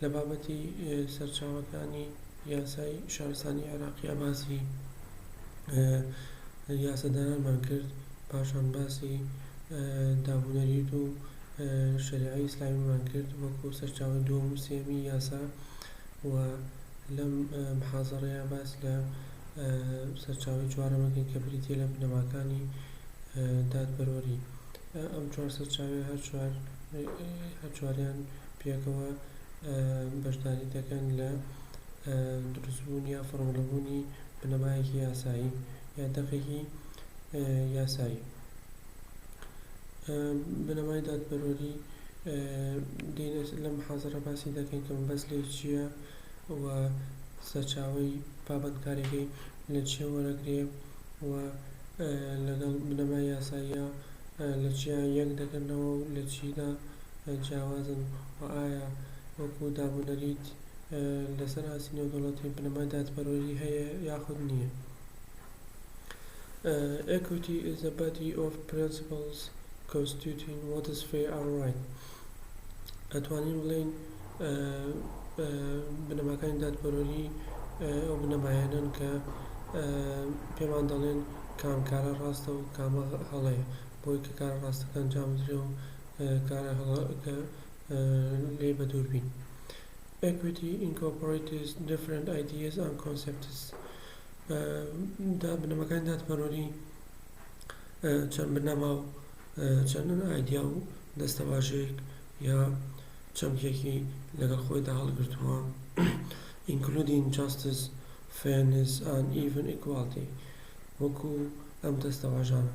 لە بابەتی سەرچاوەکانی یاسای شارستانی عێراقیا باسی یاسادانانمان کرد پاشان باسی دابونەریت و شەریعەی ئیسلامیمان کرد وەکو سەرچاوەی دووەم و سێیەمی یاسا و لەم محازەڕەیە باس لە سەرچاوەی چوارەمەکەی کە بریتیە لە بنەماکانی دادپەروەری ئەم چوار سەرچاوی هەر چوار هەر چواریان پێکەوە بەشداری دەکەن لە دروستبوون یا فۆرموڵەبوونی بنەمایەکی یاسایی یا دەقێکی یاسایی بنەمای دادپەروەری لەم حازرە باسی دەکەین کە مەبەست لێ چییە و سەرچاوی پابەندکاریەکەی لە چێ وەرەگرێ و لەگەڵ بنەما یاساییە لە چیا یەک دەگرنەوە و لە چیدا جیاوازن و ئایا وەکو دابونەریت لەسەر ئاستی نێودەوڵەتی بنەمای دادپەروەری هەیە یاخود نییە. Equity is a body of principles constituting what is fair and right ئەتوانین بڵێین بنەماکانی دادپەروەری ئەو بنەمایانەن کە پێمان دەڵێن کام کارە ڕاستە و کامە هەڵەیە. بۆی کە کارە ڕاستەکان جابدرێ و کارە هەڵەکە لێ بەدوور بین Equity incorporates different ideas and concepts بنەمەکانی دادپەروەری چەند بنەما و چەند ئایدیا و دەستەواژەیەک یا چەمکێکی لەگەڵ خۆیدا هەڵگرتووە including justice fairness and even equality وەکو ئەم دەستەواژانە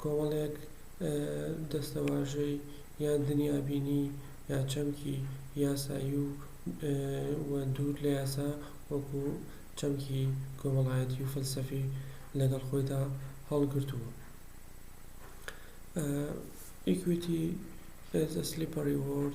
کۆمەڵێک دەستەواژەی یان دنیابینی یا چەمکی یاسایی و دوور لە یاسا وەکو چەمکی کۆمەڵایەتی و فەلسەفی لەگەڵ خۆیدا هەڵگرتووە. Equity is a slippery word.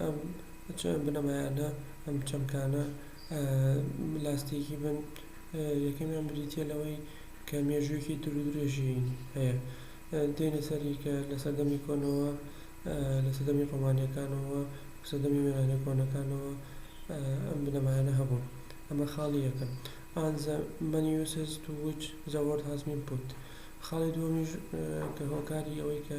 ئەم بنەمایانە، ئەم چەمکانە لاستیکی بن، یەکەمیان بریتیە لەوەی کە مێژویەکی دور و درێژی هەیە دێنە سەری کە لە سەردەمی کۆنەوە لە سەردەمی ڕۆمانیەکانەوە سەردەمی یۆنانە کۆنەکانەوە ئەم بنەمایانە هەبوون ئەمە خاڵی یەکەم ئان زە مەنی یوسس تو ویچ زە وۆرد هاز بین پوت خاڵی دوەمیش کە هۆکاری ئەوەی کە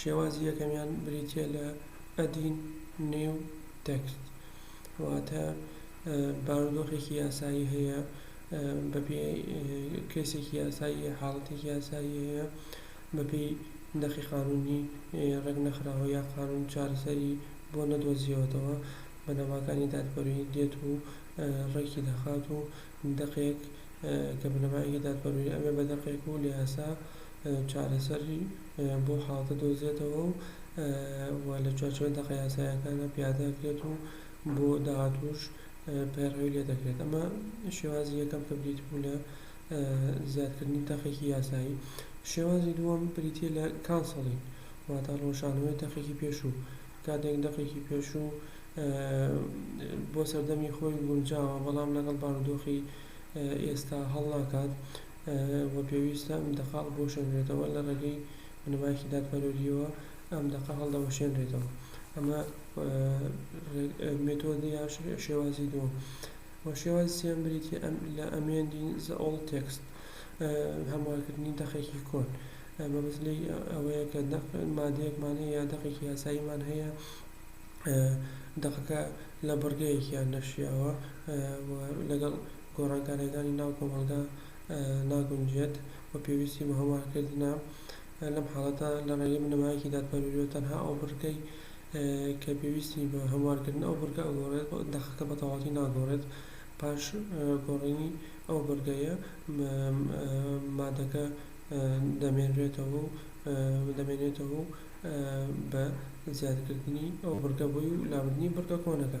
شێوازی یەکەمیان بریتییە لە ئەدین نێو تێکست واتە بارودۆخێکی یاسایی هەیە بەپێی کەیسێکی یاسایی حاڵەتێکی یاسایی هەیە بەپێی نەخی قانونی ڕێک نەخراوە یا قانون چارەسەری بۆ نەدۆزیەوەتەوە بەنەماکانی دادپەروی دێت و ڕێکی دەخات و دەقێک کە بنەمایەکی دادپەروی ئەبێ بە دەقێک و لە یاسا چارەسەری بۆ حاڵەتە دۆزێتەوە و لە چوارچێوەی دەقە یاساییەکاندا پیادە ئەکرێت و بۆ داهاتووش پەیڕەوی لێ دەکرێت ئەمە شێوازی یەکەم کە بریتی بوو لە زیادکردنی دەقێکی یاسایی شێوازی دووەم بریتیە لە کانسڵی واتە ڕۆژانەوەی دەقێکی پێشوو کاتێک دەقێکی پێشوو بۆ سەردەمی خۆی گونجاوە بەڵام لەگەڵ بارودۆخی ئێستا هەڵناکات و پێویستە ئەم دەقە هەڵبوەشێنرێتەوە لە ڕێگەی بنەمایەکی دادپەروەرییەوە ئەم دەقە هەڵدەوەشێنرێتەوە ئەمە مێتۆدی یان شێوازی دووەم و شێوازی سێیەم بریتییە لە ئەمێندین زە ئۆڵد تێکست هەموارکردنی دەقێکی کۆن مەبەست لێی ئەوەیە کە دەق مادەیەکمان هەیە یا دەقێکی یاساییمان هەیە دەقەکە لە بڕگەیەکیان نەشیاوە و لەگەڵ گۆڕانکاریەکانی ناو کۆمەڵگا ناگونجێت و پێویستی بە هەموارکردنە، لەم حاڵەتە لە ڕێگەی بنەمایەکی دادپەروەریەوە تەنها ئەو بڕگەی کە پێویستی بە هەموارکردنە ئەو بڕگە ئەگۆڕێت و دەقەکە بە تەواوەتی ناگۆڕێت پاش گۆڕینی ئەو بڕگەیە مادەکە دەمێنرێتەوە و دەمێنێتەوە و بە زیادکردنی ئەو بڕگە بۆی و لابردنی بڕگە کۆنەکە.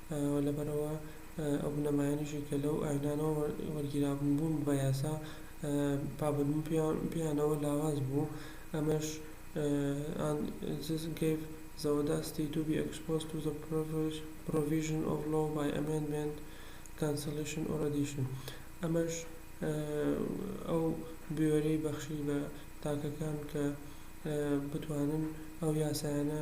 و لەبەرئەوە ئەو بنەمایانەشی کە لەو ئاینانەوە وەرگیرابوون بوون بە یاسا پابەندبوون پێیانەوە لاواز بوو ئەمەش and this gave the audacity to be exposed to the provisions of law by amendment, cancellation or addition ئەمەش ئەو بوێریی بەخشی بە تاکەکان کە بتوانن ئەو یاسایانە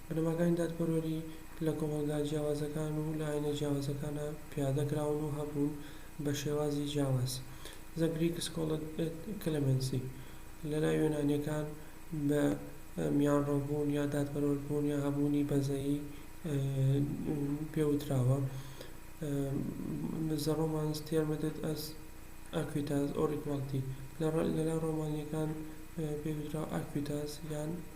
بنەماکانی دادپەروەری لە کۆمەڵگا جیاوازەکان و لە ئاینە جیاوازەکانا پیادە کراون و هەبوون بە شێوازی جیاواز. The Greek Scholar Ed Clemency لە لای یۆنانیەکان بە میانڕەوبوون یا دادپەروەربوون یا هەبوونی بەزەیی پێ وتراوە The Romans termed it as acuitas or equality لە لای ڕۆمانیەکان پێی وتراوە ئاکویتاس یان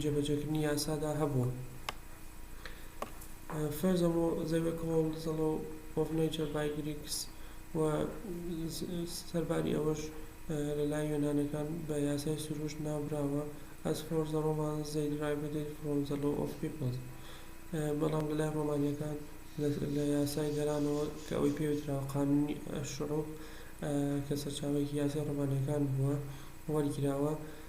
جێبەجێکردنی یاسادا هەبوون. فرزم و زەوێکهۆڵ زەڵۆ ئۆف نەیچەر بای گریکس و سەرباری ئەوەش لەلای یۆنانەکان بە یاسای سروشت ناوبراوە ئەز فۆر زە ڕۆمانس زەی دریڤد ئیت فرۆم زە لۆ ئۆف پیپڵس بەڵام لەلای ڕۆمانیەکان لە یاسای گەلانەوە کە ئەوەی پێ وتراوە قانونی ئەشعوب کە سەرچاوەیەکی یاسای ڕۆمانیەکان بووە وەرگیراوە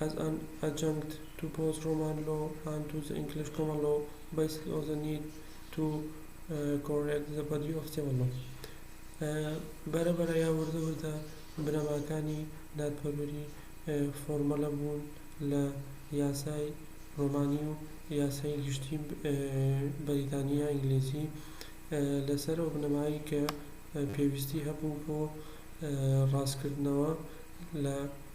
ئەز ئەن ئەجەنکت تو بۆز ڕۆمان لۆ ئەن تو زە ئینکلش کۆمەن لۆ بەیسک ئۆف زە نید تو کۆڕێکت زە بەدی ئۆف تێبڵ لۆ بەرە بەرە یا وردە وردە بنەماکانی دادپەروەری فۆرمەلە بوون لە یاسای ڕۆمانی و یاسای گشتی بەریتانی یا ئینگلیزی لەسەر ئەو بنەمایەی کە پێویستی هەبوو بۆ ڕاستکردنەوە لە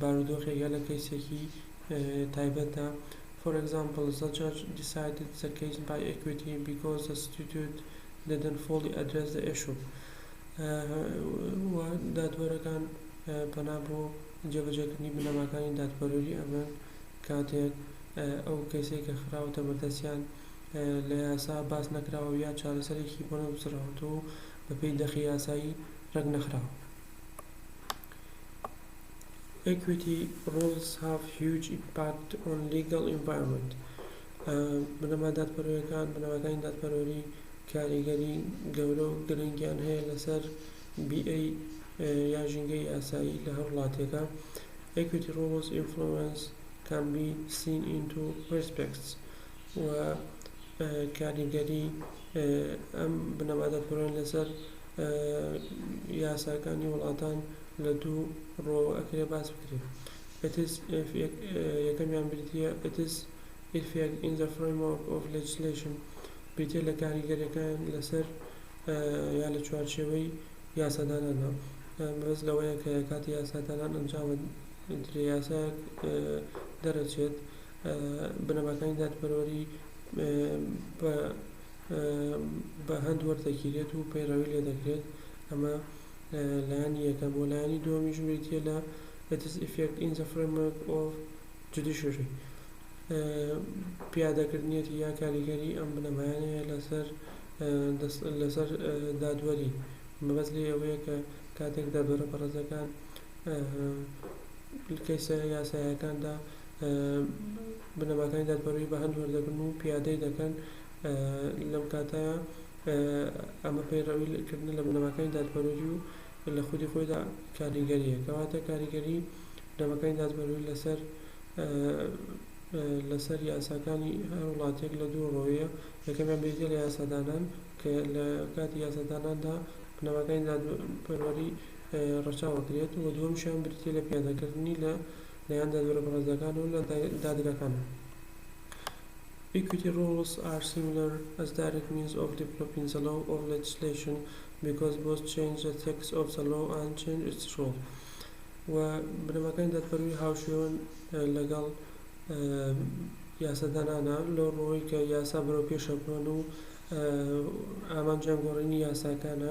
بارودۆخێک یا لە کەیسێکی تایبەتدا for example the judge decided the case by equity because the statute didn't fully address the issue وە دادوەرەکان پەنا بۆ جێبەجێکردنی بنەماکانی دادپەروەری ئەبەن کاتێک ئەو کەیسەی کە خراوەتە بەردەستیان لە یاسا باس نەکراوە یا چارەسەرێکی بۆ نەگوزڕاوەتەوە و بەپێی دەقی یاسایی ڕێک نەخراوە Equity Rules Have Huge Impact on Legal Environment بنەما دادپەروەرەکان بنەماکانی دادپەروەری کاریگەری گەورە و گرنگیان هەیە لەسەر بیئەی یا ژینگەی یاسایی لە هەر وڵاتێکا Equity Rules Influence Can Be Seen in Two Respects و کاریگەری ئەم بنەما دادپەروەرانە لەسەر یاساکانی وڵاتان لە دوو ڕوەوە ئەکرێ باس بکرێ ئیتس ئیف یەکەمیان بریتیە لە ئیتس ئیفێکت ئین زە فرەیمۆرک ئۆف لێجسلەیشن بریتیە لە کاریگەریەکان لەسەر یا لە چوارچێوەی یاساداناندا بەس لەوەیە کە کاتی یاسادانان ئەنجامە درێ یاسایەک دەرەچێت بنەماکانی دادپەروەری بە بە هەند وەردەگیرێت و پەیڕەوی لێ دەکرێت ئەمە لایەنی یەکەم و لایەنی دووەمیش بریتیە لە It is effect in the framework of judiciary پیادەکردنیەتی یا کاریگەری ئەم بنەمایانەیە لەسەر لەسەر دادوەری مەبەست لێ ئەوەیە کە کاتێک دادوەرە بەڕێزەکان کەیسە یاساییەکاندا بنەماکانی دادپەروەری بە هەند وەردەگرن و پیادەی دەکەن لەم کاتە ئەمە پەیڕەوی کردنە لە بنەماکانی دادپەروەری و لە خودی خۆیدا کاریگەریە کەواتە کاریگەری بنەماکانی دادپەروەری لەسەر لەسەر یاساکانی هەر وڵاتێک لە دوو ڕووەیە یەکەمیان بریتیە لە یاسادانان کە لە کاتی یاساداناندا بنەماکانی دادپەروەری ڕەچاو ئەکرێت و دووەمیشیان بریتیە لە پیادەکردنی لە لایەن دادوەرە بەڕێزەکانەوە و لە دادگاکانەوە. Equity rules are similar as direct means of developing the law or legislation because both change the text of the law and change its rule و بنەماکانی دادپەروەری هاوشێوەن لەگەڵ یاسادانانە لەو ڕوەی کە یاسا بەرەو پێشە بڕۆن و ئامانجیان گۆڕینی یاساکانە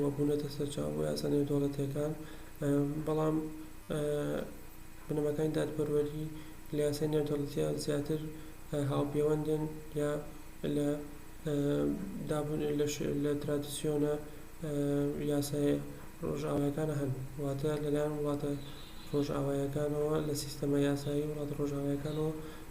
و بوونەتە سەرچاوە بۆ یاسا نێودەوڵەتییەکان بەڵام بنەماکانی دادپەروەری لە یاسای نێودەوڵەتییا زیاتر هاوپێوەندن یا لە لە ترادسیۆنە یاسای ڕۆژئاوایەکانە هەن واتە لەلایەن وڵاتە ڕۆژئاوایەکانەوە لە سیستەمە یاسایی وڵاتە ڕۆژئاوایەکانەوە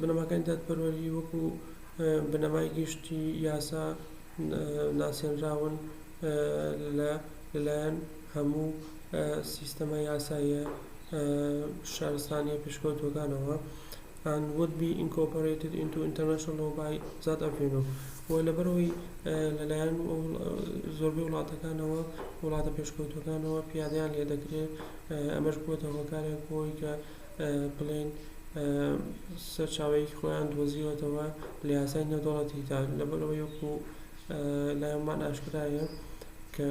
بنەماکانی دادپەروەری وەکو بنەمای گشتی یاسا ناسێنراون لەلایەن هەموو سیستەمە یاساییە شارستانیە پێشکەوتوەکانەوە and would be incorporated into international law by that avenue و لەبەرئەوەی لەلایەن زۆربەی وڵاتەکانەوە وڵاتە پێشکەوتوەکانەوە پیادەیان لێدەکرێت ئەمەش بوەتە هۆکارێک بۆ ئەوەی کە بڵێن سەرچاوەیەکی خۆیان دۆزیوەتەوە لە یاسای نێودەوڵەتیدا لەبەر ئەوەی وەکو لایانمان ئاشکرایە کە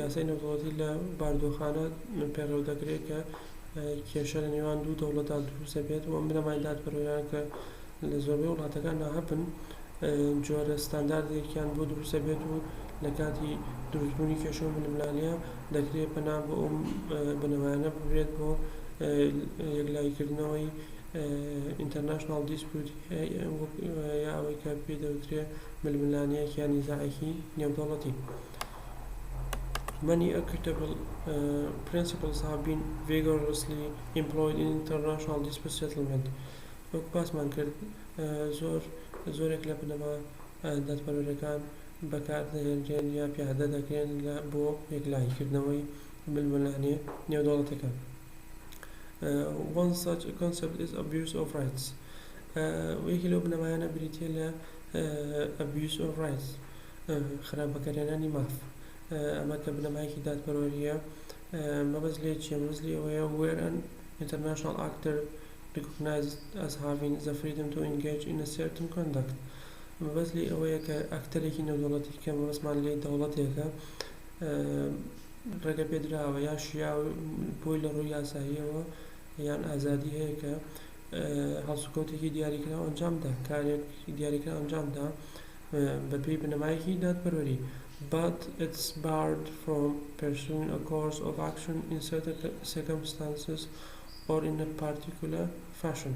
یاسای نێودەوڵەتی لە باردۆخانە پەیڕەو دەکرێت کە کێشە لە نێوان دوو دەوڵەتدا دروست دەبێت و ئەم بنەمای دادپەروەرانە کە لە زۆربەی وڵاتەکاندا هەبن جۆرە ستانداردێکیان بۆ دروستە بێت و لە کاتی دروست بوونی کێشە و ململانێ دەکرێت پەنا بۆ ئەو بنەمایانە ببرێت بۆ یەکلایی کردنەوەی ئینتەرناشناڵ دیسپیوت یا ئەوەی کە پێی دەوترێ ململانێیەک یا نیزاعێکی نێودەوڵەتی many equitable uh, principles have been vigorously employed in international dispute settlement وەک باسمان کرد زۆر زۆرێک لە بنەما دادپەروەرەکان بەکاردەهێنرێن یا پیادە دەکرێن بۆ یەکلایی کردنەوەی ململانێ نێودەوڵەتیەکان One such concept is abuse of rights یەکێ لەو بنەمایانە بریتیە لە abuse of rights خراپ بەکارهێنانی ماف ئەمە کە بنەمایەکی دادپەروەریە مەبەست لێ چیە مەبەست لێ ئەوەیە where an international actor Recognized as having the freedom to engage in a certain conduct مەبەست لێی ئەوەیە کە ئەکتەرێکی نێودەوڵەتی کە مەبەستمان لێی دەوڵەتێکە ڕێگەپێدراوە یا شیاو بۆی لە ڕووی یاساییەوە یان ئازادی هەیە کە هەڵسوکەوتێکی دیاریکرا ئەنجامدا کارێک دیاریکرا ئەنجامدا بەپێی بنەمایەکی دادپەروەری but it's barred from pursuing a course of action in certain circumstances or in a particular fashion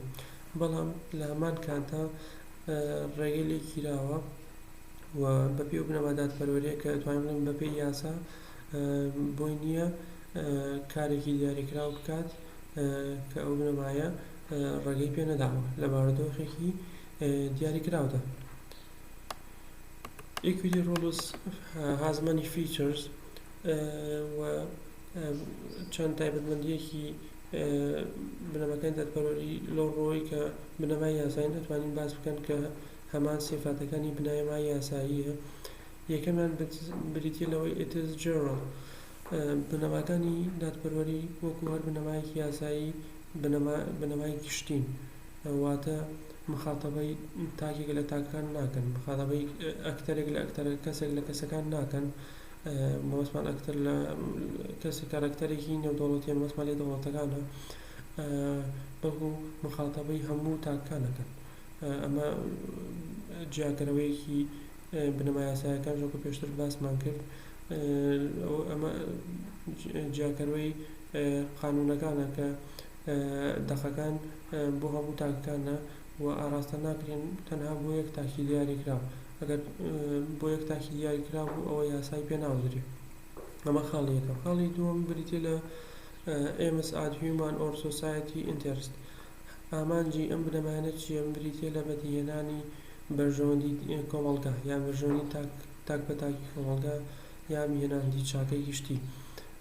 بەڵام لە هەمان کاتدا ڕێگەی لێ گیراوە و بەپێی ئەو بنەما دادپەروەریە کە دەتوانین بڵێین بەپێی یاسا بۆی نییە کارێکی دیاریکراو بکات کە ئەو بنەمایە ڕێگەی پێ نەداوە لە بارودۆخێکی دیاریکراودا equity rules has many features و چەند تایبەتمەندییەکی بنەماکانی دادپەروەری لەو ڕووەوەی کە بنەمای یاسایین ئەتوانین باس بکەن کە هەمان سیفاتەکانی بنەمای یاساییە یەکەمیان بریتییە لەوەی it is general بنەماکانی دادپەروەری وەکو هەر بنەمایەکی یاسایی بنەمای گشتین واتە مخاتەبەی تاکێک لە تاکەکان ناکەن مخاتەبەی ئەکتەرێک لە ئەکتەرە کەسێک لە کەسەکان ناکەن مەبەستمان ئەکتەر لە کەسێک کارەکتەرێکی نێودەوڵەتیە مەبەستمان لێ دەوڵەتەکانە بەڵکو مخاتەبەی هەموو تاکەکان ئەکەن ئەمە جیاکەرەوەیەکی بنەما یاسایەکان وەکو پێشتر باسمان کرد ئەمە جیاکەرەوەی قانونەکانە کە دەقەکان بۆ هەموو تاکەکانە و ئاراستە ناکرێن تەنها بۆ یەک تاکی دیاریکراو ئەگەر بۆ یەک تاکی دیاریکراو بوو ئەوە یاسایی پێ ناوترێ ئەمە خاڵی یەکەم خاڵی دووەم بریتیە لە ئێمس ئاد هیومان ئۆر سۆسایەتی ئینتێرست ئامانجی ئەم بنەمایانە چیە ئەم بریتیە لە بەدیهێنانی بەرژەوەندی کۆمەڵگا یان بەرژەوەندی تاک تاک بە تاکی کۆمەڵگا یان هێناندی چاکەی گشتی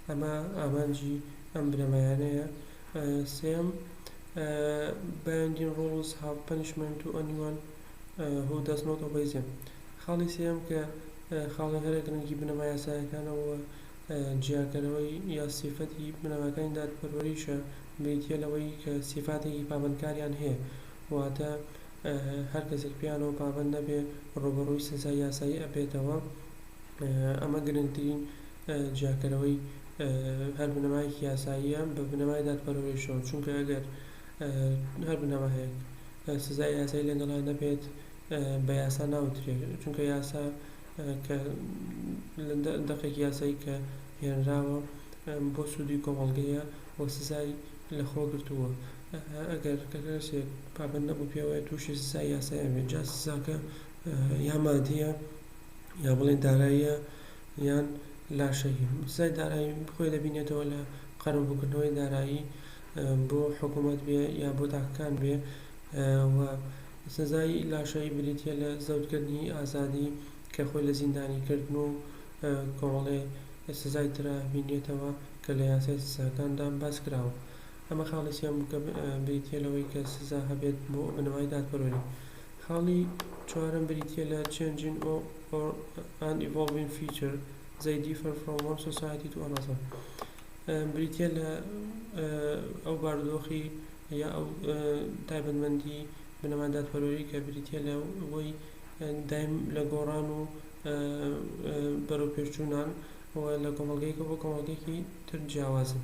ئەمە ئامانجی ئەم بنەمایانەیە سێیەم، بایندین ڕۆڵز هاو پەنیشمێنت تو ئەنیوان هو داز نۆت ئۆبەی زێم خاڵی سێیەم کە خاڵی هەرە گرنگی بنەما یاسایەکانە و جیاکەرەوەی یا سیفەتی بنەماکانی دادپەروەریشە بریتیە لەوەی کە سیفاتێکی پابەندکاریان هەیە واتە هەر کەسێک پێیانەوە پابەند نەبێ ڕوبەڕوی سزای یاسایی ئەبێتەوە ئەمە گرنگترین جیاکەرەوەی هەر بنەمایەکی یاساییە بە بنەمای دادپەروەریشەوە، چونکە ئەگەر هەر بنەمایەک سزای یاسایی لەگەڵا نەبێت بە یاسا ناوترێ، چونکە یاسا کە دەقێکی یاسایی کە هێنراوە بۆ سوودی کۆمەڵگەیە و سزای لەخۆ گرتووە ئەگەر کەسێک پابەند نەبوو پێوەیە تووشی سزای یاسایی بێت جا سزاکە یا مادییە، یا بڵێین داراییە یان لاشەیی سزای دارایی خۆی دەبینێتەوە لە قەرەبووکردنەوەی دارایی بۆ حکومەت بێ یا بۆ تاکەکان بێ و سزای لاشایی بریتە لە زەوتکردنی ئازادی کە خۆی لە زیندانی کردن و کۆمەڵێ سزای ترا بینرێتەوە کە لە یاسای سزاکاندا باس کراوە ئەمە خاڵی سێیەم بریتە لەوەی کە سزا هەبێت بۆ بنەمای دادپەروەری خاڵی چوارەم بریتییە لە Changing and Evolving Feature They Differ From One Society to Another بریتییە لە ئەو بارودۆخی یا ئەو تایبەتمەندی بنەما دادپەروەری کە بریتییە لە ئەوەی دایم لە گۆڕان و بەرەوپێشچوونان و لە کۆمەڵگەیەکە بۆ کۆمەڵگەیەکی تر جیاوازن.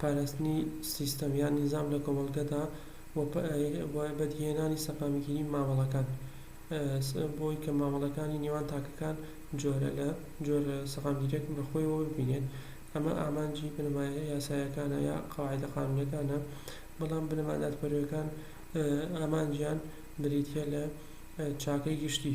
پاراستنی سیستەم یان نیزام لە کۆمەڵگەدا و بەدیهێنانی سەقامگیری مامەڵەکان بۆی کە مامەڵەکانی نێوان تاکەکان جۆرە لە جۆر سەقامگیریەک بە خۆیەوە ببینێت ئەمە ئامانجی بنەمایە یاسایەکانە یا قەواعیدە قانونیەکانە بەڵام بنەما دادپەروەکان ئامانجیان بریتیە لە چاکەی گشتی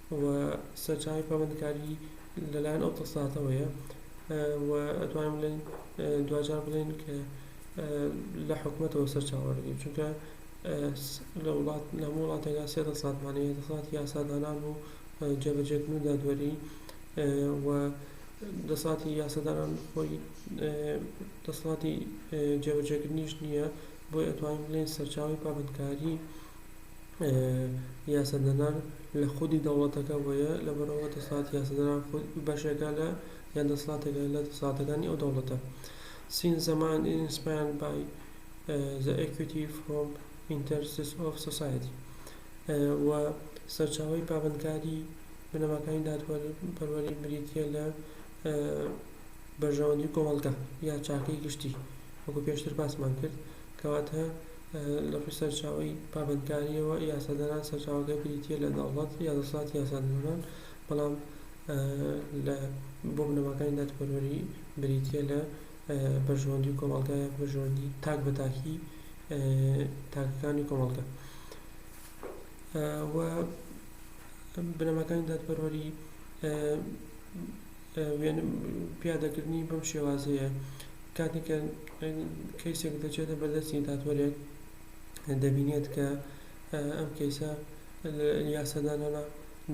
و سەرچاوەی پابەندکاری لەلایەن ئەوتەساتەوەیە و ئەتوانین بڵێن دواجار بڵێن کە لە حکومەتەوە سەرچاوە دەگرین چونکە لە وڵات لە هەموو وڵاتێکا سێ دەسەڵات مانەوە یە دەسەڵاتی یاسادانان و جێبەجێکردن و دادوەری و دەسەڵاتی یاسادانان خۆی دەسەڵاتی جێبەجێکردنیش نییە بۆیە ئەتوانین بڵێن سەرچاوی پابەندکاری یاسادانان لە خودی دەوڵەتەکە وەیە لەبەرئەوە دەسەڵاتی یاسادانان بەشێکە لە یان دەسەڵاتێکە لە دەسەڵاتەکانی ئەو دەوڵەتە Since the mind is inspired by the equity from interests of society و سەرچاوەی پابەندکاری بنەماکانی دادپەروەری بریتییە لە بەرژەوەندی کۆمەڵگە یا چاکەی گشتی وەکو پێشتر باسمان کرد کەواتە لە ڕووی سەرچاوەی پابەندکارییەوە، یاسادانان سەرچاوەکەی بریتییە لە دەوڵەت یا دەسەڵاتی یاسادانان، بەڵام لە بۆ بنەماکانی دادپەروەری بریتییە لە بەرژەوەندی کۆمەڵگا یان بەرژەوەندی تاک بە تاکی تاکەکانی کۆمەڵگا. و بنەماکانی دادپەروەری وێنە پیادەکردنی بەم شێوازەیە کاتێک کە کەیسێک دەچێتە بەردەستی دادوەرێک دەبینێت کە ئەم کەیسە یاسادانەنە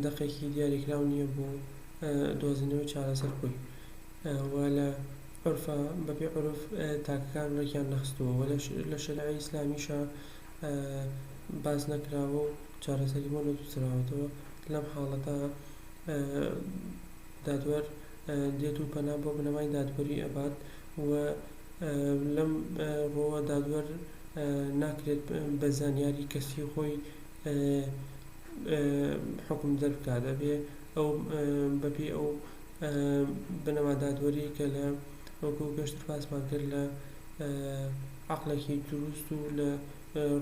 دەقێکی دیاریکراو نییە بۆ دۆزینەوەی چارەسەر خۆی و لە عرفا بەپێ عرف تاکەکان ڕێکیان نەخستووە و لە شەرعی ئیسلامیشا باس نەکراوە و چارەسەری بۆ نەدوسراوەتەوە لەم حاڵەتە دادوەر دێت و پەنا بۆ بنەمای دادوەری ئەبات و لەم ڕووەوە دادوەر ناکرێت بە زانیاری کەسی خۆی حوکم دەربکات ئەبێت ئەو بە پێی ئەو بنەما دادوەری کە لە وەکو پێشتر باسمان کرد لە عەقڵێکی دروست و لە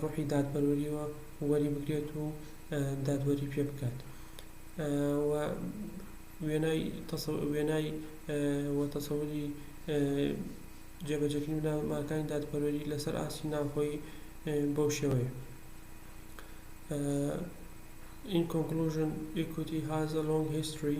ڕۆحی دادپەروەریەوە وەری بگرێت و دادوەری پێ بکات. و وێنای و تەسەوری جێبەجێکردنی بنەماکانی دادپەروەری لەسەر ئاستی ناوخۆیی بەو شێوەیە In conclusion, equity has a long history.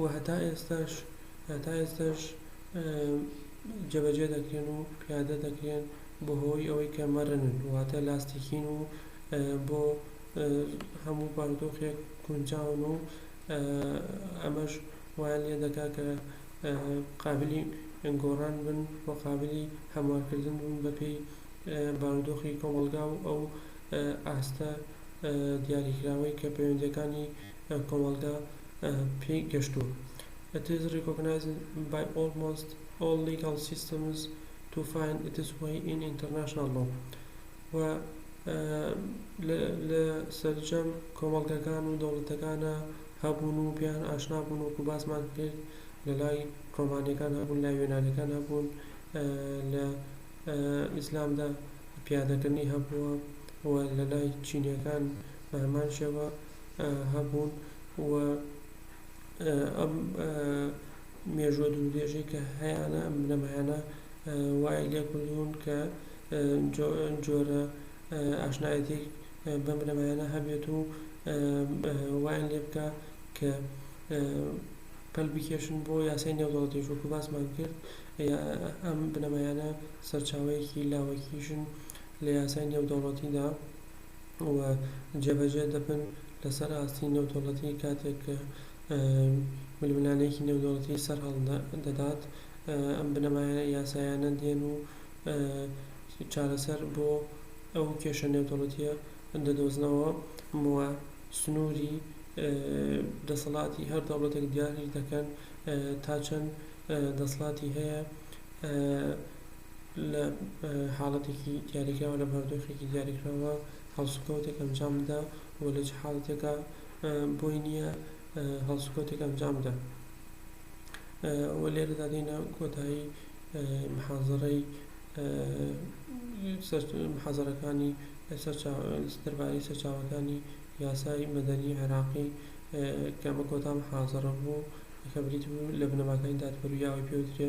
و هەتا ئێستاش هەتا ئێستاش جێبەجێ دەکرێن و پیادە دەکرێن بەهۆی ئەوەی کە مەرنن واتە لاستیکین و بۆ هەموو بارودۆخێک گونجاون و ئەمەش وایان لێ دەکا کە قابلی گۆڕان بن و قابلی هەموارکردن بن بەپێی بارودۆخی کۆمەڵگا و ئەو ئاستە دیاریکراوەی کە پەیوەندیەکانی کۆمەڵگا پێی گەشتووە. It is recognized by almost all legal systems to find its way in international law و لە سەرجەم کۆمەڵگەکان و دەوڵەتەکانا هەبوون و پێیان ئاشنا بوون وەکو باسمان کرد لە لای ڕۆمانیەکان هەبوون لای یۆنانیەکان هەبوون لە ئیسلامدا پیادەکردنی هەبووە و لە لای چینیەکان بە هەمان شێوە هەبوون و ئەم مێژووە دوورودرێژەی کە هەیانە ئەم بنەمایانە وای لێ کردوون کە جۆرە ئاشنایەتیەک بەم بنەمایانە هەبێت و وایان لێ بکا کە پەل بکێشن بۆ یاسای نێودەوڵەتیش وەکو باسمان کرد ئەم بنەمایانە سەرچاوەیەکی لاوەکیشن لە یاسای نێودەوڵەتیدا و جێبەجێ دەبن لەسەر ئاستی نێودەوڵەتی کاتێک کە ململانێیەکی نێودەوڵەتی سەرهەڵدەدات ئەم بنەما یاسایانە دێن و چارەسەر بۆ ئەو کێشە نێودەوڵەتیە دەدۆزنەوە و سنوری دەسەڵاتی هەر دەوڵەتێک دیاری دەکەن تا چەند دەسڵاتی هەیە لە حاڵەتێکی دیاریکراو لە بارودۆخێکی دیاریکراوە هەڵسوکەوتێک ئەنجام بدا و لە چ حاڵەتێکا بۆی نییە هەڵسوکەوتێک ئەنجام بدا و لێرەدا دێینە کۆتایی محازەڕەی محازەرەکانی دەربارەی سەرچاوەکانی یاسای مەدەنی عێراقی کە ئەمە کۆتا محازەڕە بوو کە بریتی بوو لە بنەماکانی دادپەروییەوە پێوترێ